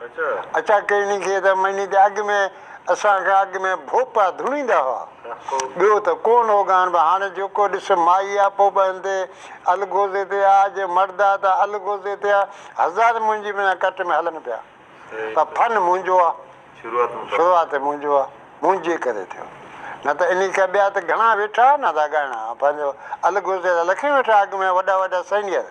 اچا ڪيني کي ته مھيني تي اڳ ۾ اسان کان اڳ ۾ ڀوپا ڌوڻيندا ھئا. ٻيو ته ڪو نوڳاھن به ھاڻي جيڪو ڏس مائي آ پوء به ھندي الغوزي تي آ جي مرد آ ته الغوزي تي آ. ھزار منھنجي بنا ڪٽ ۾ ھلن پيا پر فن منھنجو آ. شروعات منھنجو آ. منھنجي ڪري ٿيو. نه ته انھي کان ٻيا ته گھڻا ويٺا ھئا نه ھا ڳائڻا ھا پنھنجو الغوزي جا لکين ويٺا اڳ ۾ وڏا وڏا سينيئر.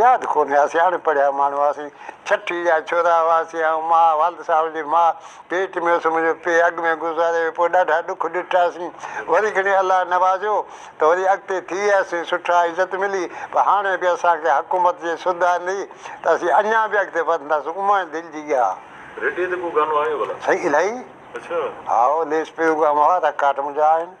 ياد ڪونهي اسين اڻ پڙهيا ماڻهو هئاسين. ڇٺي جا ڇورا هئاسين. آئون ماء والد صاحب جي ماء پيٽ ۾ هيس منهنجو پي اڳ ۾ گذاري ويو پوء ڏاڍا ڏک ڏٺاسين وري گهڻي الله نوازيو ته وري اڳتي ٿي وياسين سٺا عزت ملي پر هاڻي به اسان کي حڪومت جي سڌ آندي ته اسين اڃان به اڳتي وڌنداسون اماڻي دل جي ڳاهه. ريڊيو تي ڪو گانو آيو ڀلا؟ سائين الائي اڇا. هائو ليس پيو گام هئا رڪاٽ منهنجا آهن.